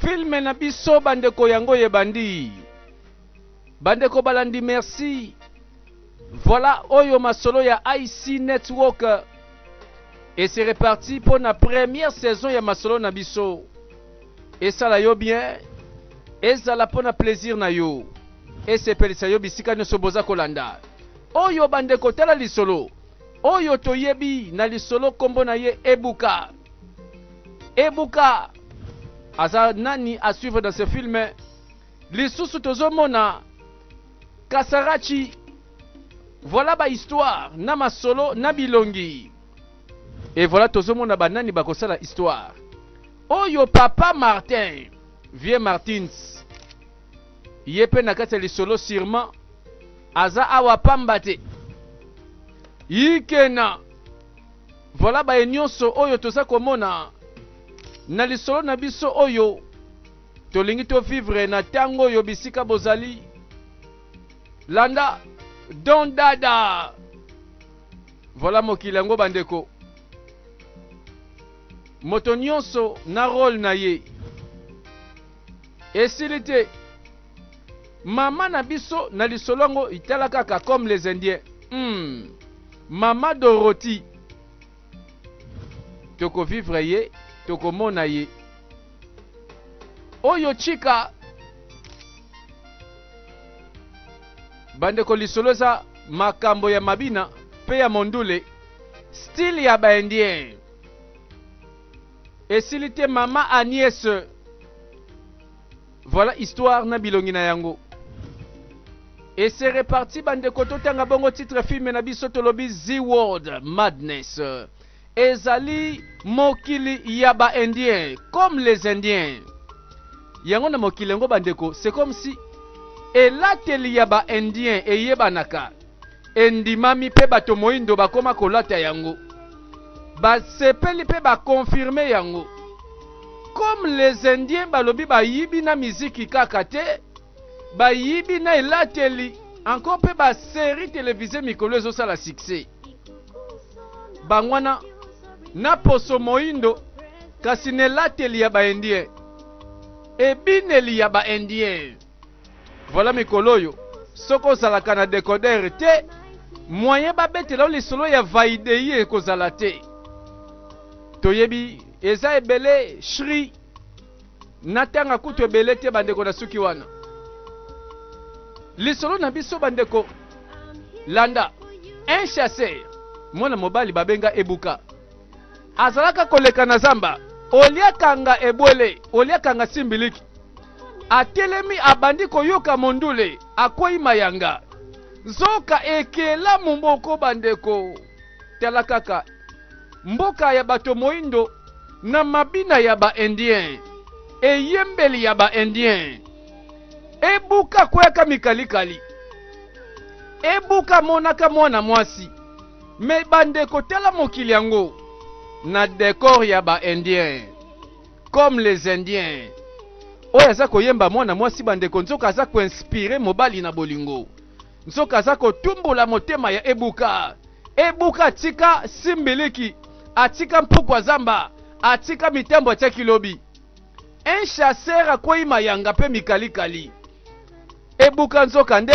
filme na biso bandeko yango ebandi bandeko balandi merci voilà oyo masolo ya ic network et c'est reparti mpo na première saison ya masolo na biso esala yo bien ezala mpo na plaisir na yo Esepelisa yo bisika nioso boza kolanda oyo ba ndeko tala lisolo oyo toyebi na lisolo kombo na ye Ebuka Ebuka aza nani a suivre dans ce film lisusu tozomona Kasarachi voilà ba histoire na masolo na bilongi et voilà tozomona ba nani bakosala histoire oyo papa Martin vieux Martins ye pe na kati ya lisolo surement aza awa pamba te yikena voilà baye nyonso oyo toza komona na lisolo na biso oyo tolingi to vivre na tango oyo bisika bozali landa don dada voilà mokili yango bandeko moto nyonso na role na ye Esili te. Mama na biso na lisolo yango itala kaka comme les indiens. Hmm. Mama Dorothy. Toko vivre ye, toko mona ye. Oyo chika bandeko lisolo eza makambo ya mabina mpe ya mondule style ya baindien Esili te mama Agnes. Voilà histoire na bilongi na yango. Et c'est reparti bandeko totanga bongo titre film na biso tolobi Z World Madness. Ezali mokili ya ba Indiens comme les Indiens. Yango na mokili yango bandeko c'est comme si elateli ya ba Indiens eyebanaka. endimami mpe bato moindo bakoma kolata yango. Basepeli mpe ba confirmer yango. Comme les indiens balobi bayibi na miziki kaka te, bayibi na elateli encore mpe ba serie televise mikolo ezosala succès. Bango wana na poso moindo kasi na elateli ya ba indien, ebineli ya ba indien. Voilà mikolo oyo soki ozalaka na decoder te moyen babetela yo lisolo ya vaidei ekozala te toyebi eza ebele shri natanga kutu ebele te bandeko na suki wana lisolo na biso bandeko landa un chasseur mwana mobali babenga ebuka azalaka koleka na zamba oliakanga ebwele oliakanga simbiliki atelemi abandi koyoka mondule, akwei mayanga. Nzoka ekelamu moko bandeko, tala kaka mboka ya bato moindo na mabina ya ba indien, eyembeli ya ba indien ebuka kweyaka mikalikali, ebuka monaka mwana mwasi me bandeko, tala mokili yango na decor ya ba indien. Comme les indiens. Oyo aza koyemba mwana mwasi bandeko nzoka aza ko inspire mobali na bolingo. Nzoka aza kotumbola motema ya Ebuka. Ebuka atika simbiliki, atika mpukwa zamba, atika mitambo atiaki lobi. Un chasseur akweyi mayanga mpe mikalikali. Ebuka nzoka nde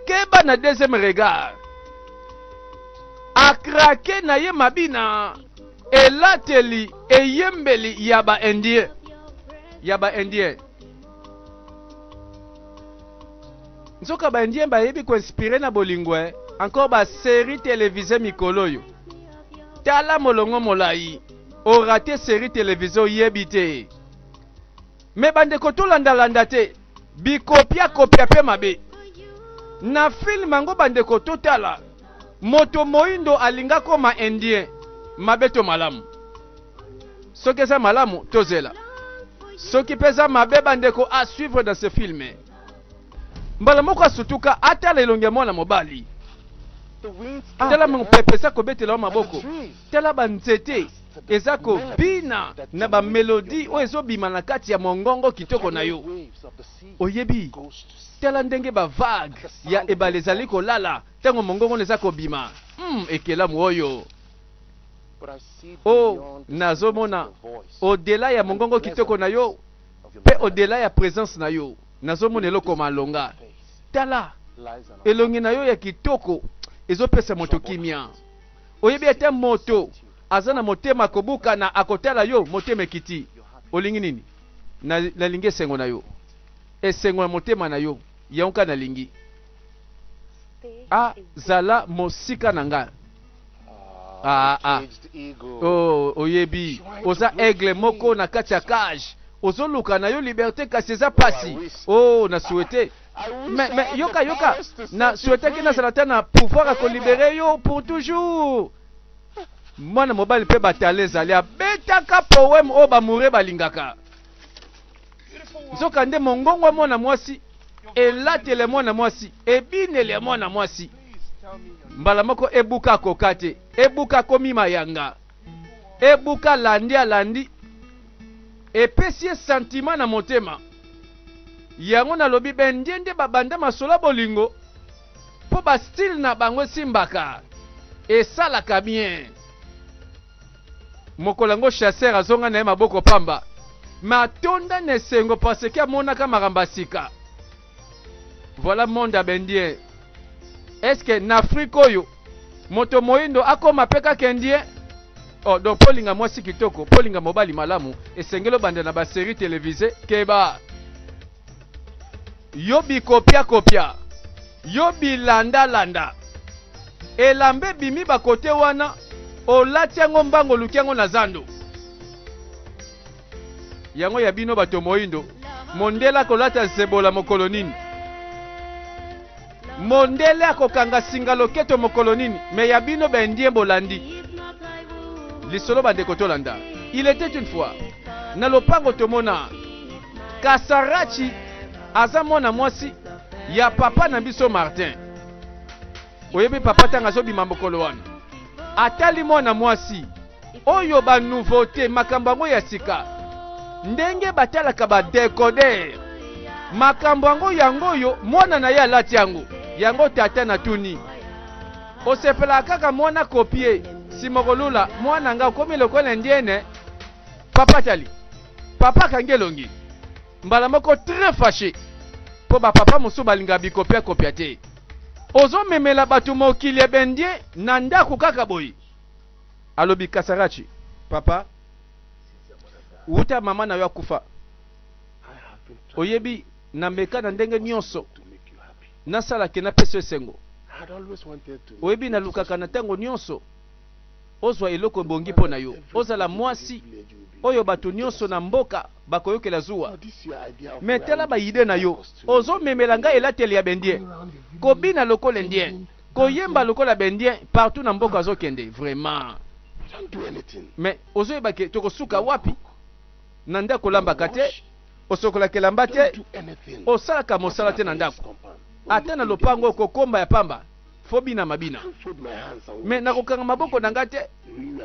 keba na deuxième regard. Akrake na ye mabina elateli eyembeli ya ba indien ya ba indien nzoka ba indien bayebi koinspire na bolingo eh? encore ba série télévisée mikolo oyo tala molongo molai orate série télévisée oyebi te Mais bandeko tolanda landa te bikopia kopia pe mabe na film yango bandeko totala moto moindo alinga koma indien mabe to malamu soki eza malamu tozela soki pe eza mabe bandeko a suivre dans ce film mbala moko asutuka atala elongi ya mwana mobali tala mopepe eza kobetela yo maboko Tala ba nzete eza ko bina na ba melodi oyo ezo bima na kati ya mongongo kitoko na yo. Oyebi, tala ndenge ba vague ya ebale ezali ko lala tango mongongo na eza ko bima. Hum, ekelamu oyo! Oh, nazo mona au dela ya mongongo kitoko na yo pe au dela ya presence na yo, nazo mona eloko malonga. Tala elongi na yo ya kitoko ezo pesa moto kimia. Oyebi ete moto aza na motema kobukana akotala yo, motema ekiti. Olingi nini? Na, nalingi esengo na yo, esengo ya motema na yo, yango kaka nalingi. A, ah, zala mosika na ngai. Ah, ah. Oh, oyebi oza aigle moko na kati ya cage ozoluka na yo liberte kasi eza pasi oh na souhaite Mais, mais, yoka, yoka, na souhaitaki nazala ata na pouvoir ya kolibere yo pour toujours. Mwana mobali mpe batale ezali abetaka poème oyo bamoure balingaka. Nzoka nde mongongo ya mwana mwasi, elatele ya mwana mwasi, ebinele ya mwana mwasi. Mbala moko ebuka akoka te, ebuka komi mayanga, ebuka landi alandi Epesi ye sentiment na motema. Yango nalobi b'indiende ba banda masolo ya bolingo po ba style na bango esimbaka, esalaka bien. Mokolo yango chasseur azonga na ye maboko pamba mais atonda n'esengo parce que amonaka makambo ya sika. Voilà monde ya bendien. Est-ce que na Afrique oyo moto moindo akoma pe kaka indien? Oh, donc polinga mwasi kitoko, polinga mobali malamu, esengeli obanda na ba série télévisée keba. Yo bikopia kopia, yo bilanda landa. Elambe bimi ba kote wana, olati yango mbango oluki yango na zando. Yango ya bino bato moindo, mondele akolata nsebola mokolo nini? Mondele akokanga singa loketo mokolo nini? Me ya bino ba indien bolandi lisolo bandeko tolanda. Il était une fois na lopango tomona Kasarachi aza mwana mwasi ya papa na biso Martin. Oyebi papa tanga azobima mokolo wana atali mwana mwasi Oyo ba nouveaute makambo yango ya sika ndenge batalaka ba decoder makambo yango yango oyo mwana na ye alati yango yango tata na tuni osepelaka kaka mwana kopie nsima okolula mwana nga okomi lokola indiene papa tali papa akangi elongi mbala moko très fâché mpo bapapa mosusu balingaka bikopiakopia te ozomemela bato mokili ebendie na ndako kaka boye alobi kasarachi papa wuta mama na yo akufa oyebi na meka na ndenge nyonso nasala ke napesa esengo oyebi nalukaka na ntango nyonso ozwa eloko ebongi mpo na yo ozala mwasi oyo bato nyonso na mboka bakoyokela zuwa me tala baide na yo ozomemela ngai elateli ya bendien kobina lokola indien Koyemba lokola b'indien partout na mboka azo kende vraiment. Mais ozo yeba ke toko suka wapi? Na ndaku olambaka te, osokolaka elamba te, osalaka mosala te na ndaku. Ata na lopango oko komba ya pamba. Faut binama bina. Mais nako kanga maboko na nga te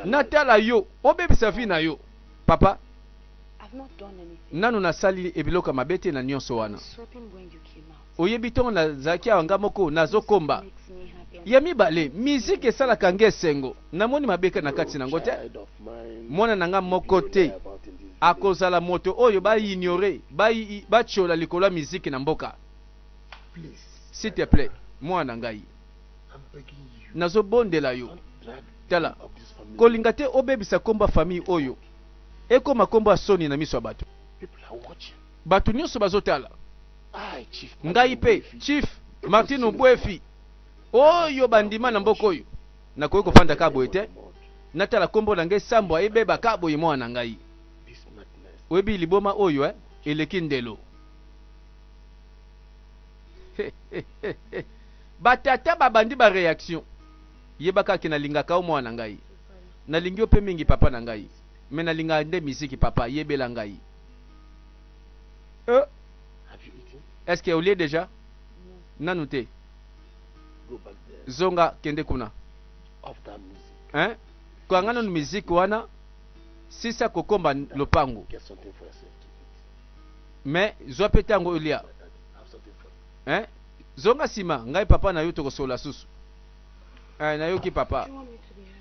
na tala yo obebisa vie na yo. Papa nanu na sali ebiloko ya mabe te na nionso wana. Oyebi tongo na zalaki awa nga moko na zo komba ya mibale musique esalaka nga esengo na moni mabeka na kati na ngo te mwana na nga moko te akozala moto oyo ba ignore ba ba tchola likolo ya musique na mboka s'il te plait mwana na ngai na zo bondela yo tala kolinga te obebisa kombo ya famille oyo ekoma kombo ya soni na miso ya bato. Batu nionso bazotala ngai pe chief Martin Obuefi oyo bandima na mboka oyo nakoki kofanda ka boye te natala kombo na ngai sambwa ebeba ka boye mwana na ngai oyebi liboma oyo eh eleki ndelo ba tata babandi ba reaction yebaka ke nalingaka yo mwana na ngai nalingi yo pe mingi papa na ngai me nalingaka nde miziki papa yebela ngai Euh. Est ce que olie déjà? Nanu te. Zonga kende kuna. Hein? Kanga nanu musique wana sisa kokomba lopango. Mais zwa pe tango olia. Hein? Zonga sima ngai papa na yo tokosola susu. Eh, nayoki papa.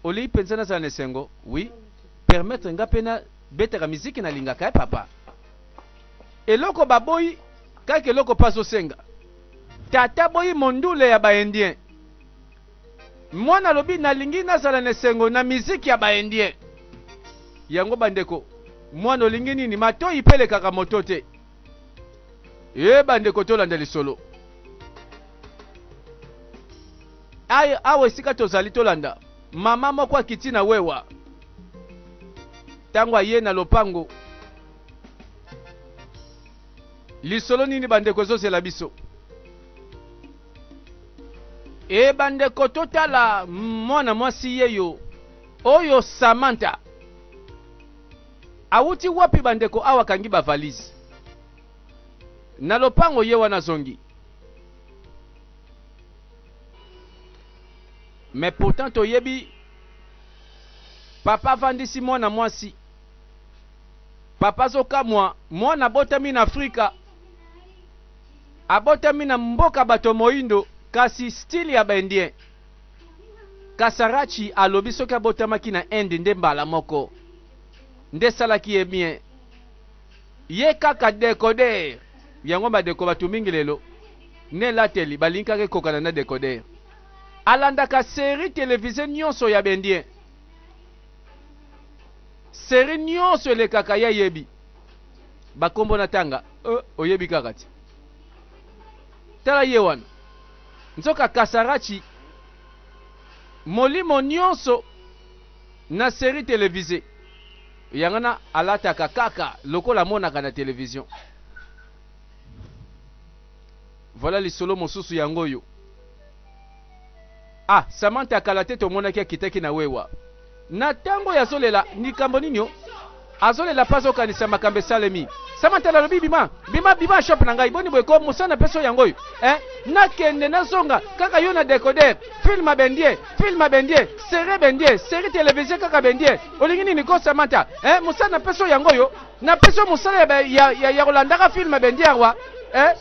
Oli penza na zana esengo. Oui. Permettre nga pena Betaka miziki na lingaka eh papa. Eloko baboyi kaka eloko pa azosenga. Tata boyi mondule ya ba indien. Mwana alobi nalingi nazala na esengo na miziki ya ba indien. Yango bandeko mwana olingi nini matoyi pe elekaka moto te. Ye bandeko tolanda lisolo. Awa esika tozali tolanda. Mama moko akiti na wewa ntango aye na lopango. Lisolo nini bandeko ezozela biso? E bandeko, totala mwana mwasi yeyo oyo Samantha. Awuti wapi bandeko? Awa kangi ba valise na lopango, ye wana zongi. Mais pourtant toyebi papa avandisi mwana mwasi papa azokamwa mwana abotami na afrika abotami na mboka bato moindo kasi style ya ba indien kasarachi alobi soki abotamaki na inde nde mbala moko nde esalaki ye bien ye kaka decoder yango badeko bato mingi lelo nelateli balinkaka ekokana na decoder Alandaka serie televise nionso ya b'indien. Serie nionso elekaka ye ayebi ba kombo na tanga euh oyebi kaka te. Tala ye wana. Nzoka Kasarachi molimo nionso na serie televise yango wana alataka kaka lokola amonaka na television. Voilà lisolo mosusu yango oyo. Ah Samantha ya kala te tomonaki akitaki na wewa na tango oyo azolela likambo nini o azolela mpe azokanisa makambo esalemi Samantha nalobi bima bima bima shop na ngai boni boye ko mosana mpe so yango oyo eh nakende nazonga kaka yo na decoder film bendie film bendie serie bendie serie television kaka bendie olingi nini ko Samantha eh mosana mpe so yango oyo Na pesi yo mosala ya, ya, ya, ya kolandaka film bendiarwa eh?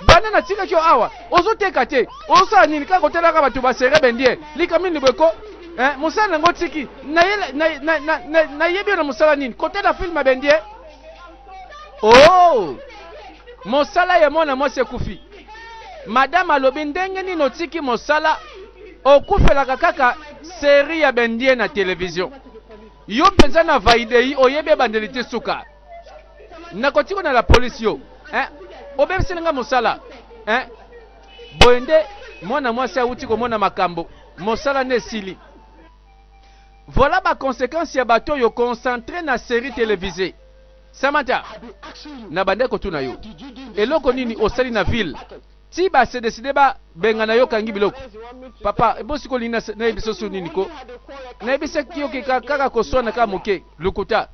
banda na tikaki yo awa ozoteka te ozosala nini kaka kotelaka bato basere bendie likambo nini boyeko eh? mosala nango otiki nayebi yo na mosala nini kotela filme bendie o oh! mosala ya mwana mwasi ekufi madame alobi ndenge nini otiki mosala okufelaka kaka seri ya bendie na televizio Yo penza na vaidei oyebi ebandeli te suka. Nakotiko na la police yo. Hein? Obebiseli nga mosala. Hein? Boye nde mwana mwasi awuti komona makambo. Mosala nde esili. Voilà ba conséquences ya bato yo concentré na série télévisée. Samantha, nabandaki kotuna yo eloko nini osali na ville Ti ba se decide ba bengana yo kangi biloko. Papa, ebo siko lini na na yebiso su nini ko? Na yebisa kiyo ke ka kaka ko swana kaka moke. Lokuta.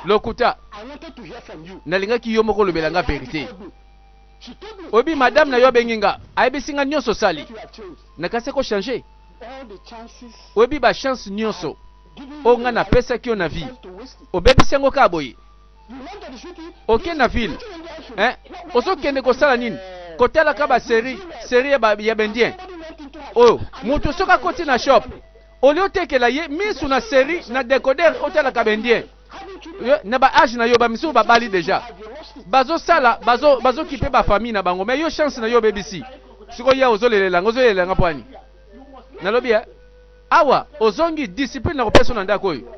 Lokuta. Na lingaki yo moko lobela nga verite. Oyebi madame na yo abengi nga, ayebisi nga nionso osali. Na kasi ko change. Oyebi ba chance nionso. O nga na pesaki yo na vie. Obebisi yango kaka boye. oke na ville eh? ozokende kosala nini kotalaka baserie serie ya, ba, ya bendien oyo oh, moto soki akoti na shop olie otekela ye misu na serie na decoder otalaka bendien na baage na yo bamisusu babali deja bazosala bazokipe bazo, bazo bafamille na bango mai yo chance na yo obebisi sikoyo ya ozolelela yango ozolelela yanga pwani nalobi ya eh? Awa ozongi discipline na kopesa na ndako oyo.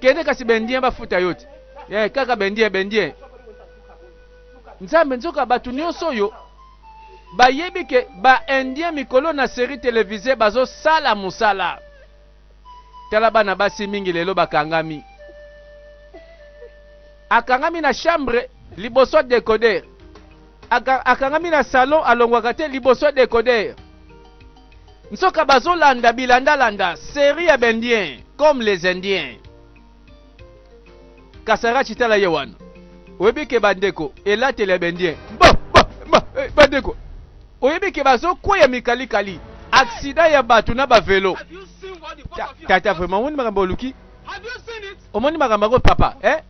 Kende kasi bendien bafuta yo te. Eh, kaka bendien bendien. Nzambe nzoka bato nyonso oyo bayebi ke ba indien mikolo na série télévisée bazosala mosala. Tala bana basi mingi lelo bakangami. Akangami na chambre liboso decoder. Akangami na salon alongwaka te liboso decoder. Nsoka bazolanda bilandalanda serie ya bendien comme les indiens. Kasarachi tala ye wana. Oyebi ke bandeko elateli ya bendien. Ba, ba, ba, eh, bandeko. Oyebi ke bazokweya mikalikali. Aksida ya bato na bavelo. Tata vraiment omoni makambo oluki? Omoni makambo yango papa eh?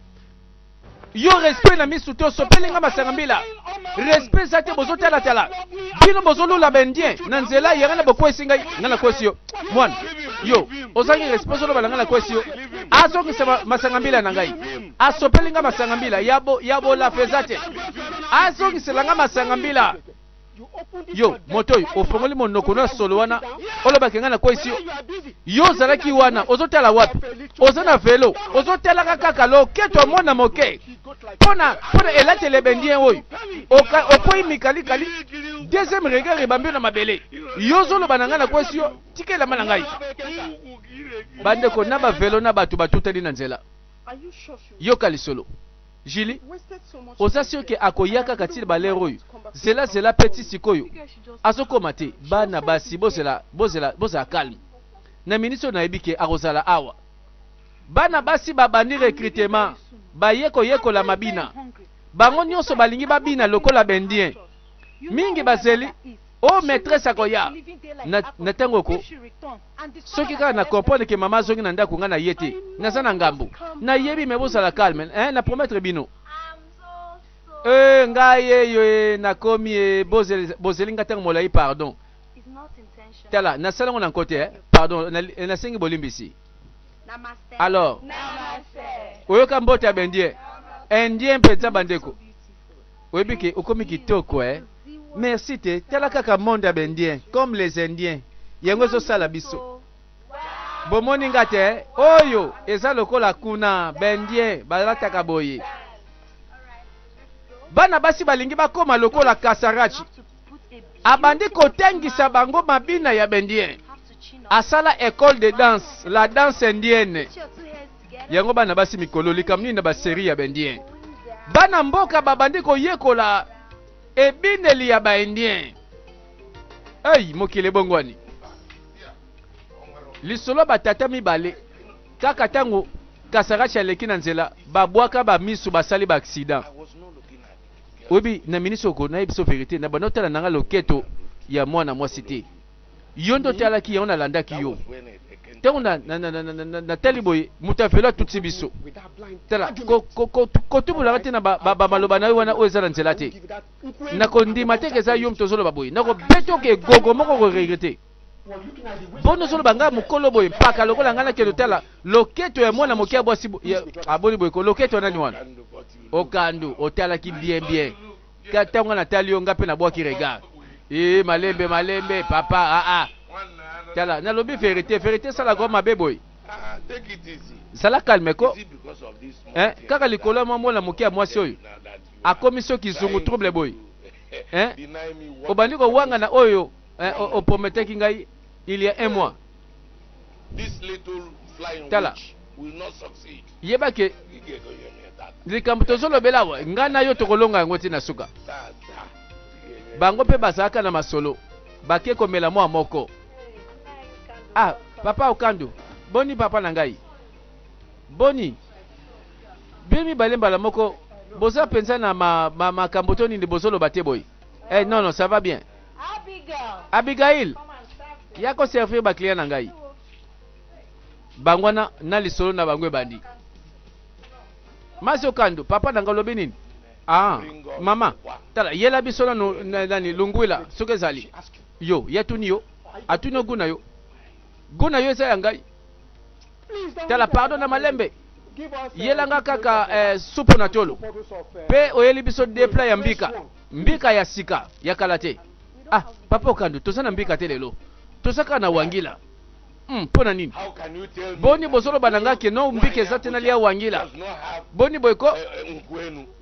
yo respect na misu to sopeli nga masanga mbila respect eza te bozotalatala bino bozolula baindien na nzela yanga na bokwesi ngai nga nakwesi yo mwana yo ozangi respect ozoloba na nga nakwesi yo azongisa masanga mbila na ngai asopeli nga masanga mbila ya bolafa eza te azongisela nga masanga mbila Yo, moto oyo, ofongoli monoko na solo wana, olobaki ngai nakweyisi yo. Yo ozalaki wana, ozotala wapi? Oza na velo, ozotalaka kaka loketo mwana moke mpo na elateli ebendi oyo. Okwei mikalikali, deuxième regard ebambi yo na mabele. Yo ozoloba na ngai nakweyisi yo, tika elamba na ngai. Bandeko na bavelo na bato batutani na nzela. Yoka lisolo. Julie, oza sur que akoya kaka ti ba lere oyo? Zela zela pe ti sikoyo azokoma te. Bana basi bozela bozela bozala calme. Na minute oyo nayebi ke akozala awa. Bana basi babandi recrutement, baye koyekola mabina. Bango nyonso balingi babina lokola ba indien. Mingi bazeli o oh, maitresse akoya na, na tango oko soki kaka na comprendre ke mama azongi na ndako nga na ye te naza na ngambo nayebi me bozala calme eh, na promettre bino e ngai eyo e nakomi e bozeli nga ntango molai pardon tala nasala yango na nko te eh? pardon nasengi bolimbisi alors oyoka mbote ya baindien indien mpenza bandeko Oyebi ke okomi kitoko eh. Merci te tala kaka monde ya bendien comme les indiens yango ezosala biso bomoni nga te oyo eza lokola kuna bendien balataka boye bana basi balingi bakoma lokola kasarachi abandi kotangisa bango mabina ya bendien asala ecole de danse la danse indienne yango bana basi mikolo likambo nini na baserie ya baindien bana mboka babandi koyekola ebineli ya baindien ei mokili ebongwani lisolo batata mibale kaka ntango kasarachi aleki na nzela babwaka bamisu basali baaksida Oyebi na minisi oko na yebiso verite na banda otala nanga loketo ya mwana mwasi te yo nde otalaki yango nalandaki yo ntango natali boye moto ya velo atuti biso tala kotubulaka te na bamaloba na yo wana oyo eza na nzela te nakondima te ke eza yo moto ozoloba boye nakobeta oke gogo moko koregrete boni ozoloba ngai mokolo boye mpaka lokola ngai nakende otala loketo ya mwana moke ya bwasi aboni boye ko loketo ya nani wana okandu otalaki bien bien ntango ngai natali yo ngai mpe nabwaki regard ee malembe malembe papa aa ah, ah. tala nalobi verite verite esalaka yo mabe boye zala kalme ko eh, kaka likolo ya mwa mwana moke ya mwasi oyo akomi soki zungu trouble boye eh, obandi kowangana oyo eh, o, o prometaki ngai il y a un mois tala yeba ke likambo tozolobela awa ngai na yo tokolonga yango ti na suka bango mpe bazalaka na masolo bake komela mwa moko ah papa okandu boni papa na ngai boni bino mibale mbala moko boza mpenza na makambo ma, ma to nini bozoloba te boye eh, non non ça va bien Abigail, ya ko servir ba clients na ngai. Bango na na lisolo na bango ebandi. Mazio Kando, papa na ngai olobi nini? Ah, mama, tala yela biso na nani lungwila soki ezali. Yo, yatuni yo. Atuni oguna yo. Guna yo eza ya ngai. Tala pardon na malembe. yelanga kaka eh, supu na tolo mpe oyeli biso depla ya mbika Mbika ya sika, ya kala te. Ah, Papa Okandu, toza na mbika te lelo. Toza kaka na wangila. Hmm, mpo na nini? Boni bozoloba na nga ke no mbika eza te nalia wangila. Boni boye ko?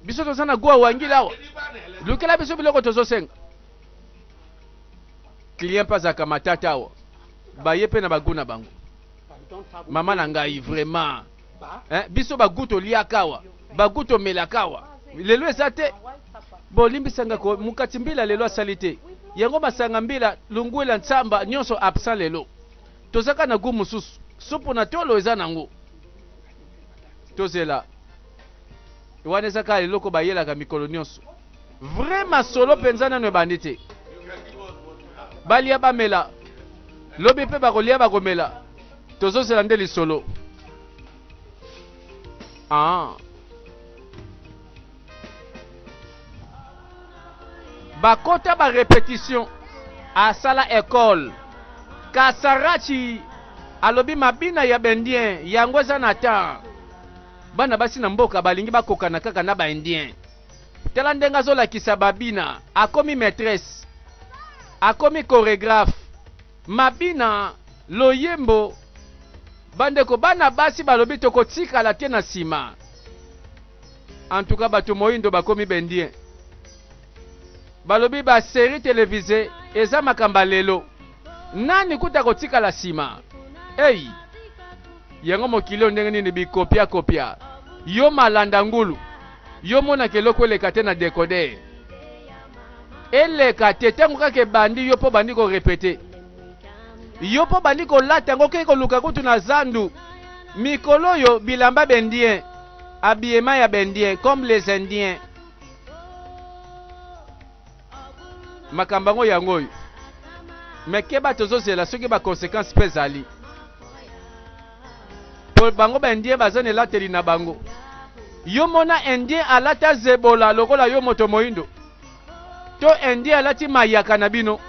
Biso toza na goa wangila awa. Lukela biso biloko tozosenga. Client mpe azalaka matata awa. Baye mpe na bagu na bango. Mama na ngai, vraiment. eh, biso bagu toliaka awa bagu tomelaka awa lelo eza te bolimbisa nga ko mokati mbila lelo asali te yango masanga mbila lungwela nsamba nyonso absent lelo tozaka na gu mosusu supu na tolo eza nango tozela wana eza kaka eloko bayelaka mikolo nyonso Vrai masolo penza nanu ebandi te. Balia bamela. Lobi pe bakolia bakomela. Tozozela nde lisolo. Ah. Bakota ba repetition asala école. Kasarachi alobi mabina ya bendien yango eza na temps. Bana basi na mboka balingi bakokana kaka na ba indien. Tala ndenge azolakisa babina. Akomi maitresse. Akomi choregraphe. Mabina, loyembo. Bandeko bana basi balobi tokotikala te na sima. En tout cas bato moindo bakomi bendien. Balobi ba serie televise eza makamba lelo. Nani kuta kotikala sima. Hey! Yango mokili ndenge nini bikopia kopia. Yo malanda ngulu. Yo monaka eloko eleka te na decoder? Eleka te tango kaka ebandi yo po bandi ko repeter. Yo po bandi kolata yango okeyi koluka kutu na zandu. Mikolo oyo bilamba b'indiens, habillement ya b'indiens comme les indiens. Makambo yango yango oyo. Mais keba tozozela soki ba consequences pe ezali. po bango ba indien baza na elateli na bango yo mona indien alata zebola lokola yo moto moindo to indien alati mayaka na bino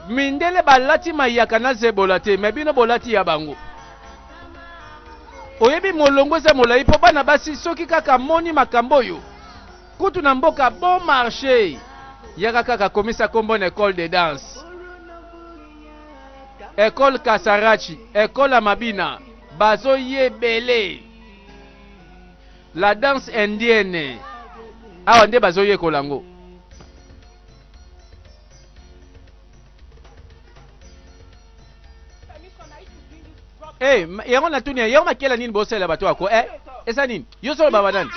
mindele balati mayaka na zebola te me bino bolati ya bango oyebi molongo eza molai mpo bana basi soki kaka moni makambo oyo Kutu na mboka bon marche. Yaka kaka komisa kombo na ecole de danse. Ecole Kasarachi, ecole ya mabina, bazo ye ebele. La danse indienne. Awa nde bazo yekola ngo. Hey, eh, yango natuni yango makela nini bosalela bato yako eh, eza nini yo solo baba nani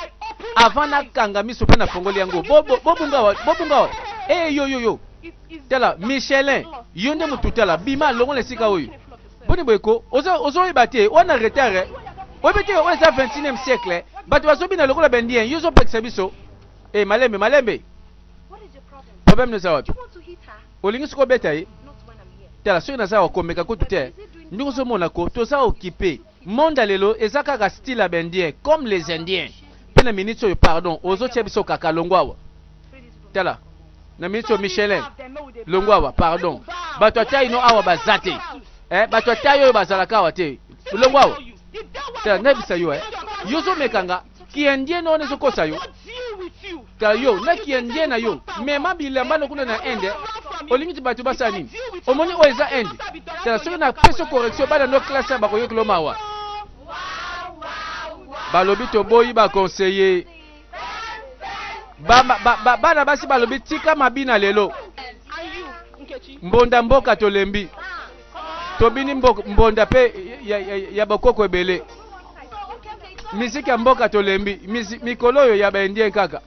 avant nakanga miso mpe nafongoli yango bobungawa bobungawa e eh, yoyoyo tala michelin yo nde motu tala bima longola esika oyo boni boye ko ozoyeba te wana retard eh. oyebi te oyo eza 21e siècle bato bazobina lokola bendien yo ozopekisa biso e malembe malembe Problème naza wapi? Olingi siko beta ye? Tala soki naza wa komeka kutu te. Ndenge ozomona ko toza occupé. Monde ya lelo eza kaka style ya b'indien comme les indiens. Mpe na minute oyo pardon ozotia biso kaka longwa awa. Tala na minute oyo Michelin longwa awa pardon. Bato ya taille no awa baza te. Eh, bato ya taille oyo bazalaka awa te. Longwa awa. Tala nayebisa yo eh. Yo ozomeka nga. kiendiene wana ezokosa yo ta yo na kiendiene na yo mema bilamba na kuna na inde olingi ti bato basala nini omoni oyo eza inde tala soki na peso correction bana no classe bakoyokelo mawa balobi toboyi baconseiller bana ba, ba, ba, basi balobi tika mabina lelo mbonda mboka tolembi tobini mbonda pe ya, ya, ya bokoko ebele miziki ya mboka tolembi mikolo oyo ya baindien kaka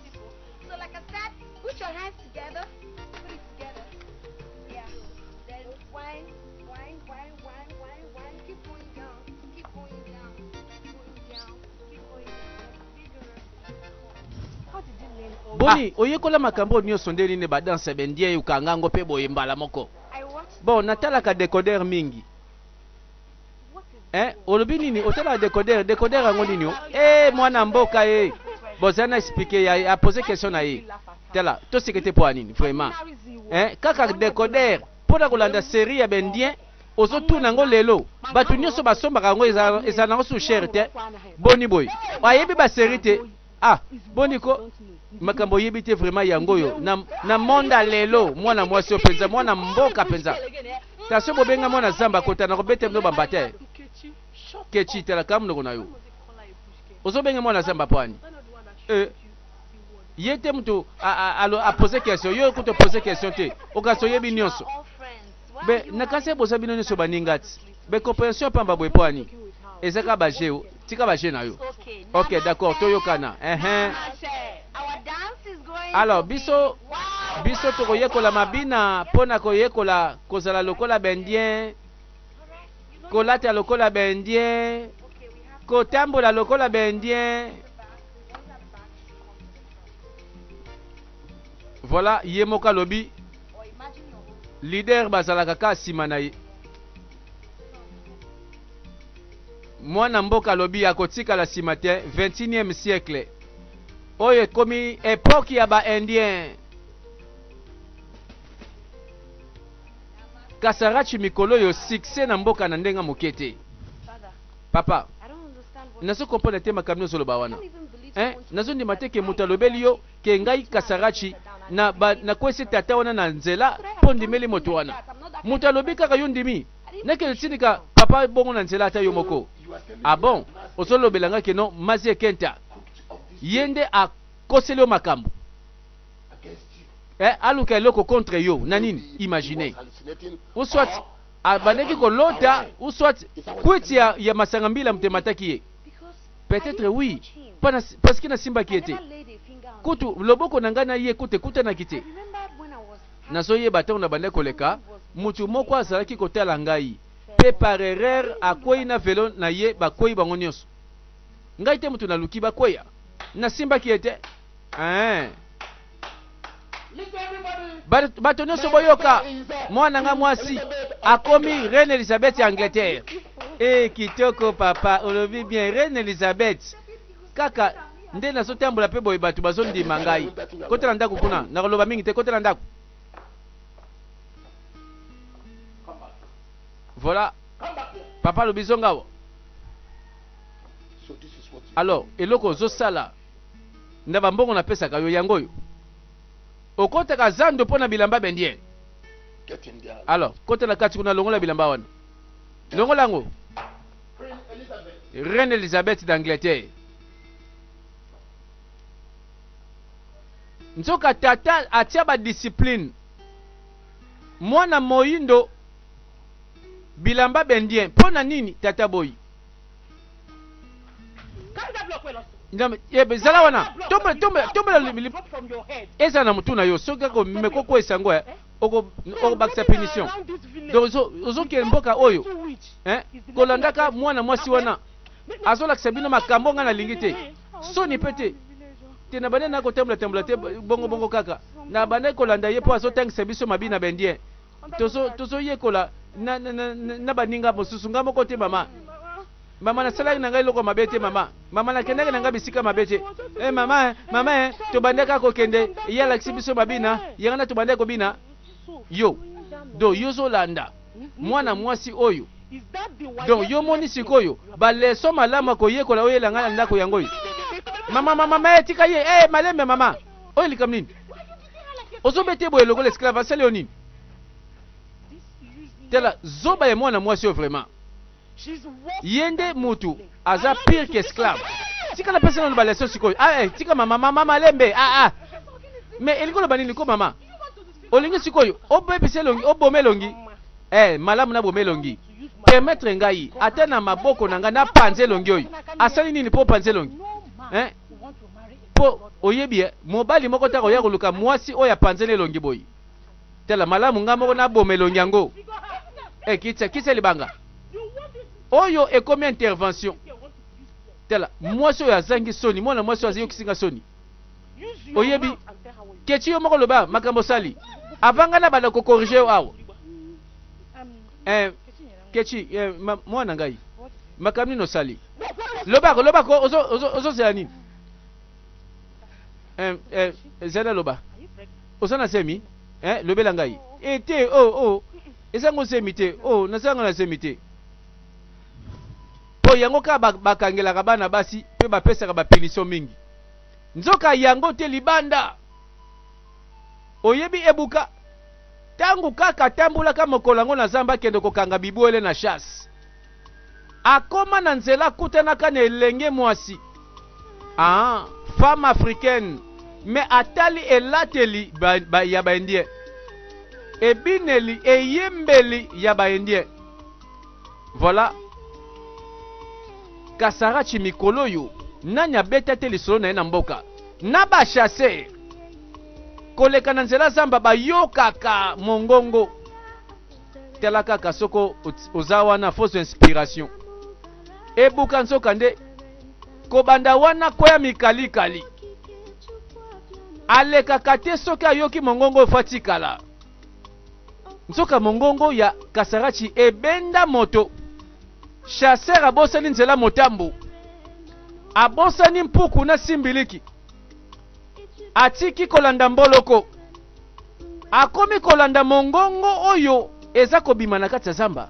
boni ah. oyekola makambo oyo nyonso nde nini badanse bendie okanga yango mpe boye mbala moko Bon, natalaka decoder mingi. Eh, olobi nini? Otalaka decoder, decoder yango nini? Oh? Eh, mwana mboka eh. Bozana expliquer ya a poser question na ye. Tala, to sekete po nini vraiment? Eh, kaka decoder pour na kolanda série ya bendien ozotuna yango lelo bato nyonso basombaka yango ezala nango sous cher te boni boye ayebi baserie te Ah, boni ko makambo oyebi te vraiment yango oyo na, na monda lelo mwana mwasi oyo mpenza mwana mboka mpenza tasio bobenga mwana zamba kota na kobete bino bamba te kechi talaka monoko na yo ozobenga mwana zamba mpo ani eh, ye te moto apose question yo kutu opose question te okasi oyebi nyonso be nakasi ebosa bino nyonso baninga ti be comprehension pamba boye mpo ani ezaka bajeo tika ba jeu na yo ok d'accord toyokana ehe alors biso biso tokoyekola mabina mpo na koyekola kozala lokola baindien kolata lokola baindien kotambola lokola baindien voilà ye moko alobi lider bazalaka kaka nsima na ye Mwana mboka alobi akotikala sima te 21 siècle oyo ekomi epoque ya ba indien kasarachi mikolo yo succès na mboka na ndenga moke te papa nazo comprendre te makambo nyonso oloba wana eh, nazo ndima te ke moto alobeli yo ke ngai kasarachi nakwesi na tata wana na nzela mpo ndimeli moto wana moto alobi kaka yo ndimi Neke yotinika papa bongo na nzela ata yo moko ah bon ozo lobela nga keno mazie kenta ye nde a koseli yo makambu eh aluka eloko contre yo na nini imagine ou soit abandaki ko lota ou soit kwiti ya, ya masanga mbila mte mataki ye peut-être oui pana parce que na simbaki ye te kutu loboko na ngai na ye kutu ekutanaki te Nazoyeba ntango nabandaki koleka, mutu moko azalaki kotala ngai, pe par erreur akweyi na velo na ye, bakweyi bango nionso. Ngai te mutu naluki bakweya, nasimbaki ye te. Eeh! Ba, bato nionso boyoka! Mwana na ngai mwasi akomi Reine Elisabeth ya Angleterre. Eeh, kitoko papa, olobi bien, Reine Elisabeth. Kaka nde nazo tambola pe boye batu bazo ndima ngai. Kota na ndaku kuna, nako loba mingi te, kota na ndaku. Voilà. Papa alobi zonga awa. Alors, eloko ozo sala na ba mbongo napesaka yo yango oyo. Okotaka zando mpo na bilamba bendien. Alors, kota na kati kuna longola bilamba wana. Longola yango. Reine Elisabeth d'Angleterre. Nzoka tata atia ba discipline. Mwana moyindo bilamba bendien mpo na nini tata boyi zala wana tombela eza na motu na yo soki akomekokweisa yango eh. okobakisa punition donc ozokende mboka oyo eh, kolandaka mwana mwasi wana azolakisa bino makambo ngai nalingi te soni mpe te te na bandaki nakotambola tambola te bongobongo kaka na bandaki kolanda ye mpo azotangisa biso mabi na baindien tozoyekola na baninga mosusu ngai moko te mama Mama nasalaki na ngai eloko ya mabe te mama mama nakendaki na ngai bisika mabe te eh mama eh, mama eh, tobandaka kokende ye alakisi biso babina yango na tobandaki kobina yo do yo ozolanda mwana mwasi oyo donc yo moni sikoyo baleso malamu ya koyekola oyo elanga na ndako yango oyo mama mama ma etika ye e malembe mama oyo likambo nini ozobete boye lokola esclave asali yo nini tala zoba ya mwana mwasi oyo vraiment Ye nde mutu aza pire que esclave. Tika na pesa nanu ba leçon sikoyo ah eh tika mama mama malembe ah ah mais elingi oloba nini ko mama olingi sikoyo obebisa elongi oboma elongi eh malamu na boma elongi permettre ngai ata na maboko na ngai napanza elongi oyo asali nini mpo opanza elongi eh? mpo oyebi eh, mobali moko ntango oya koluka mwasi oyo apanzeli elongi boye Tala, malamu ngai moko naboma elongi yango. Ee, kitisa, kitisa libanga oyo. Ekomi intervention. Tala, mwasi oyo azangi soni, mwana mwasi oyo aziyokisi nga soni. Oyebi, kechi yo moko loba makambo osali avanga na banda kokorige yo awa. Eh, kechi eh, mwana ngai makambo nini osali? Lobako, lobako, ozozela nini? Eh, eh, zela loba. Oza na semi eh lobela ngai eh te oh oh eza ngo semi te oh naza nga na semi te po yango kaka bakangelaka bana basi pe bapesaka bapunition mingi nzoka yango te libanda oyebi ebuka ntango kaka atambolaka mokolo yango na zamba akende kokanga bibwele na chasse Akoma na nzela akutanaka na elenge mwasi ah, femme africaine mais atali elateli ba, ba, ya ba indien, ebineli, eyembeli ya ba indien. Voilà. Kasarachi mikolo yo nani abeta te lisolo na ye na mboka na ba chasse koleka na nzela zamba bayokaka mongongo tala kaka soko oza wana fausse inspiration ebuka nzoka nde kobanda wana koya mikalikali alekaka te soki ayoki mongongo oyo fatikala nzoka mongongo ya kasarachi ebenda moto chaser abosani nzela motambo abosani mpuku na simbiliki atiki kolanda mboloko akomi kolanda mongongo oyo eza kobima na kati ya zamba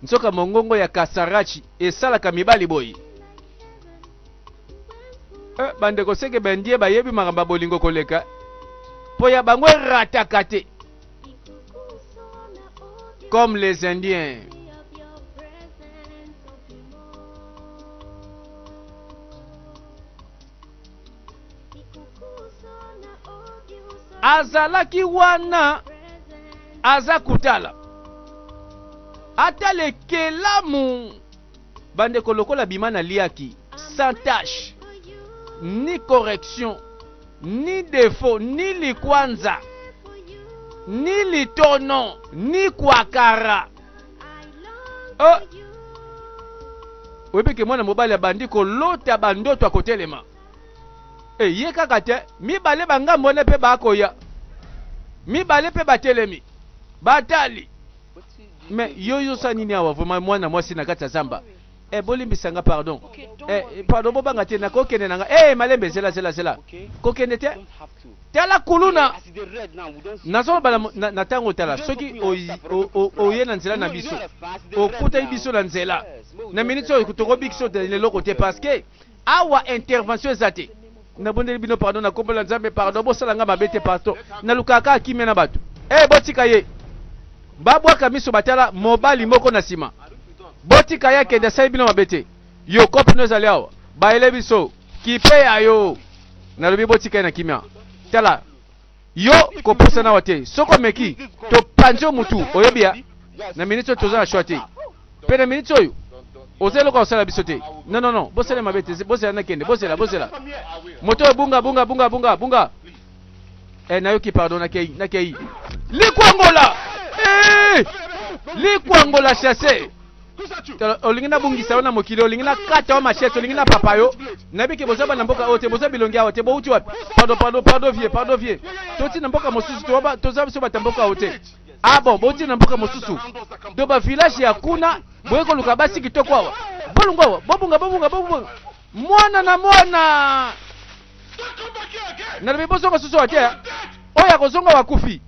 nzoka mongongo ya kasarachi esalaka mibali boye eh, bandeko seke bendie bayebi makambo ya bolingo koleka mpo ya bango erataka te comme les indiens azalaki wana aza kotala ata lekelamu bandeko lokola bima naliaki sans tache ni correction ni defaut ni likwanza ni litono ni kwakara oh! oyebi ke mwana mobali abandi kolota bandoto ya kotelema eye eh, kaka te mibale bangambo wana mpe bakoya mibale mpe batelemi batali me yo yosa nini awa vraimen mwana mwasi na kati ya zamba Eh, bolimbisa nga pardon. Eh, pardon bobanga te nakokende na nga. Eh, malembe zela zela zela. Kokende te. Tala kuluna. Nazo bala na, na tango tala soki oye na nzela na biso. Okutaki biso na nzela. Na minute oyo tokobikisa leloko te parce que Awa intervention eza te. Nabondeli bino pardon na kombo na Nzambe pardon bosala nga mabe te pardon. Nalukaka kaka kimia na bato. Eh botika ye. Babwaka miso batala mobali moko na sima. Botika ye akende asali bino mabe te. Yo kopi no ezali awa. Bayele biso kipe ya yo. Nalobi botika ye na kimia. Tala yo kopusa nawa te soki omeki topanzi yo mutu oyebi ya na miniti oyo toza na shwa te mpe na miniti oyo oza eloko osala biso te non non non bosala mabe te bozela nakende bozela bozela moto oyo bunga bunga bunga bunga bunga eh, nayoki pardon nakei nakei likwangola eh! likwangola chasse olingi nabungisa yo na mokili olingi nakata yo machete olingi napapa yo nayebi ke boza bana mboka oyo te boza bilongi awa te bouti wapi pado pado pado vie pado vie toti na mboka mosusu toza biso bata mboka oyo te ah bon bouti na mboka mosusu to bavillage ya kuna boye koluka basi kitoko awa bolungu awa bobunga bobunga bobunga mwana na mwana nalobi bozonga susu awa te oyo akozonga wakufi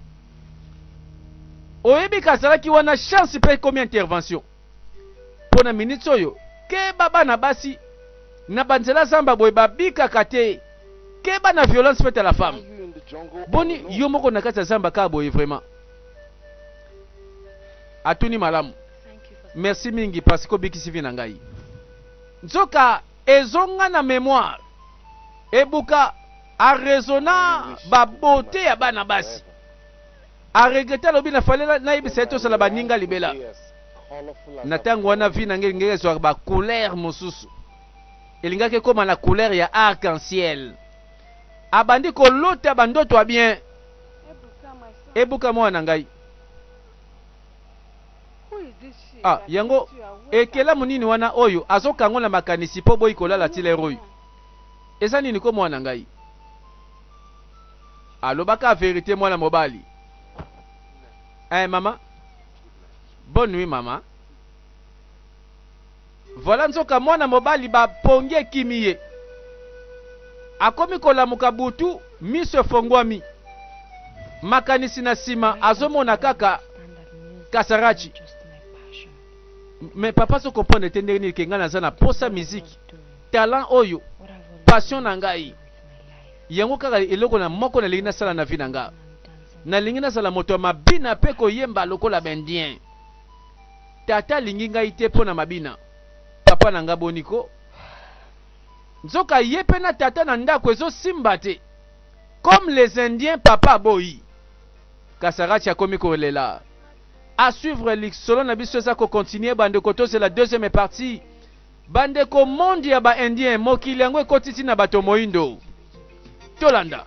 oyebi kazalaki wana chance mpe ekomi intervention mpo na miniti oyo keba bana basi na banzela zamba boye babikaka te keba na violence faite à la femme boni yo moko na kati ya zamba kaka boye vraiment atuni malamu merci mingi parce que obikisi vi na ngai nzoka ezonga na memoire ebuka a raisonna ba beaute ya bana basi a regrette alobi na fale nayebisa ye tosala baninga libela na ntango wana vi na ngai elingaki ezwaka ba couleur mosusu elingaki ekóma na couleur ya arc en ciel abandi kolota bandoto ya bien ebuka mwana na ngai ah yango ekelamu nini wana oyo azokango na makanisi mpo boyi kolala ti lere oyo Eza nini ko mwana ngai alobaka verite mwana mobali eh mama bonne nuit mama voilà nzoka mwana mobali ba pongi ekimi ye akomi kolamuka butu miso efongwami makanisi na sima azomona kaka kasarachi mais papa so comprendre te ndenge nini ke ngai naza na posa miziki Talent oyo passion na ngai. Yango kaka eloko na moko nalingi nasala na vie na nga. Nalingi nazala moto ya mabina pe koyemba lokola ba indien. Tata alingi ngai te po na mabina. Papa na nga boni ko? Nzoka ye pe na tata na ndaku ezo simba te. Comme les indiens papa aboyi. Kasarachi akomi ko lela. A suivre lisolo na biso eza ko continuer ba ndeko tozela deuxième partie. Bandeko monde ya ba indien mokili yango ekoti ti na bato moindo tolanda.